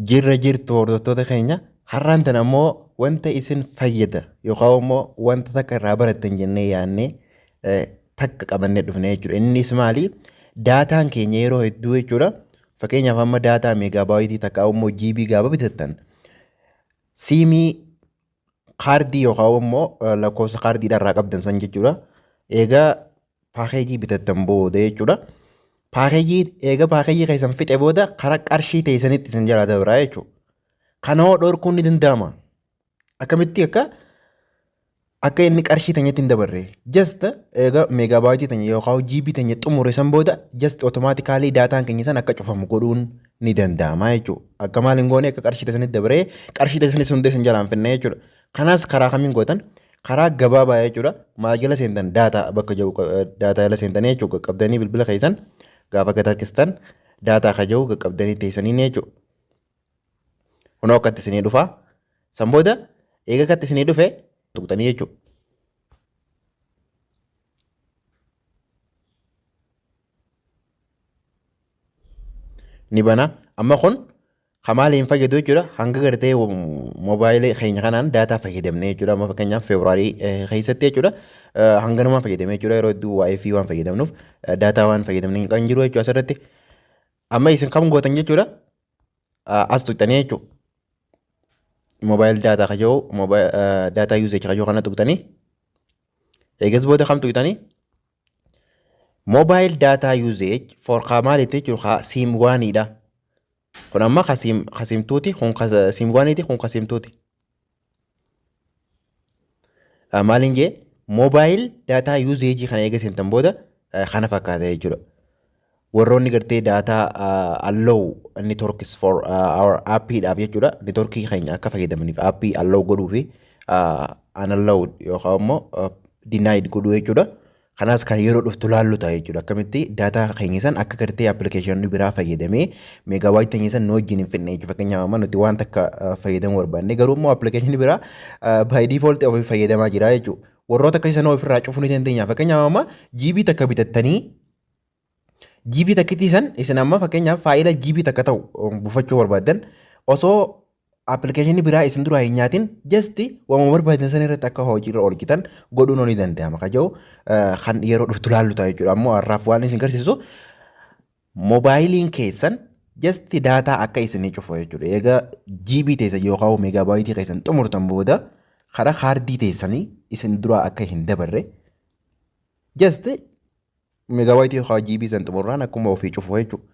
Jirra jirtu hordoftoota keenya har'aan tan ammoo wanta isin fayyada yookaan immoo wanta takka irraa barattan jennee yaannee eh, takka qabannee dhufne jechuudha. Innis maali? Daataan keenya yeroo hedduu jechuudha. Fakkeenyaaf amma daataa meegaabaayitii takka immoo jiibii gaaba bitattan siimii kaardii yookaan immoo lakkoofsa kaardiidhaa irraa qabdan san jechuudha. Egaa paakeejii bitattan booda jechuudha. Paakeejii egaa paakeejii keessan fixe booda karaa qarshii teessanitti isin jalaa dabraa jechuudha. Kana hoo dhorkuun ni danda'ama. Akkamitti akka akka inni qarshii teenyatti hin dabarre. Just egaa meegaabaayitii teenya yookaan jiibii teenya xumure san booda just otomaatikaalii daataan keenya san akka cufamu godhuun ni danda'ama jechuudha. Akka maal hin goone akka qarshii keessanitti dabaree qarshii keessanitti sun hundee sin jalaan finna jechuudha. Kanas karaa kamiin gootan karaa gabaabaa jechuudha. Maal jala seentan daataa bakka jiru daataa jala seentan jechuudha. Qaqqabdanii bilbila keessan gaafa gad harkistan daataa kan jiru qaqqabdanii teessanii jechuudha. Kunoo akkatti isinii dhufaa. San booda eega akkatti isinii dhufe tuqxanii jechuudha. ni bana amma kun kan maal hin fayyadu jechuudha hanga gartee moobaayilii keenya kanaan daataa fayyadamne jechuudha amma fakkeenyaaf feebruaarii keessatti jechuudha hanganumaan fayyadamne jechuudha yeroo hedduu waayifii waan fayyadamnuuf daataa waan fayyadamne kan jiru jechuudha asirratti amma isin kam gootan jechuudha as tuqxanii jechuudha moobaayil daataa kajoo daataa yuuzeechi kajoo kana tuqxanii eegas booda kam tuqxanii Mobile data usage for ka maalitti jechuun ka siim waaniidha. Kun amma ka siim ka siimtuuti kun ka siim waaniiti kun ka siimtuuti. Ah, Maaliin jee mobile data usage kana eega seentan booda eh, kana fakkaata jechuudha. warroonni gartee data uh, allow networks for uh, our app dhaaf jechuudha networkii keenya akka fayyadamaniif app allow godhuu fi uh, unallowed yookaan immoo uh, denied godhuu jechuudha kanaas kan yeroo dhuftu laallu ta'a jechuudha akkamitti data keenya san akka gartee application biraa fayyadamee megawaayit keenya san nu wajjin hin fidne jechuudha fakkeenyaaf amma nuti waan takka uh, fayyadamuu barbaanne garuu immoo application biraa uh, by default ofii fayyadamaa jira jechuudha warroota akkasii sana ofirraa cufuu ni dandeenya fakkeenyaaf amma GB takka bitattanii GB takkitii san isin amma fakkeenyaaf faayila GB takka ta'u um, buufachuu barbaaddan osoo appilikeeshinii biraa isin duraa hin nyaatin jasti waamuu barbaadan san irratti akka hojiirra oolchitan godhuun ni danda'ama ka jedhu eh, kan yeroo dhuftu laallu ta'a jechuudha ammoo har'aaf waan isin garsiisu moobaayiliin keessan jasti daataa akka isinii cufu jechuudha egaa GB teessan yookaan meegaabaayitii keessan xumurtan booda karaa kaardii teessanii isin duraa akka hin dabarre jasti Megabyte yookaan GB san xumurraan akkuma ofii cufu jechuudha.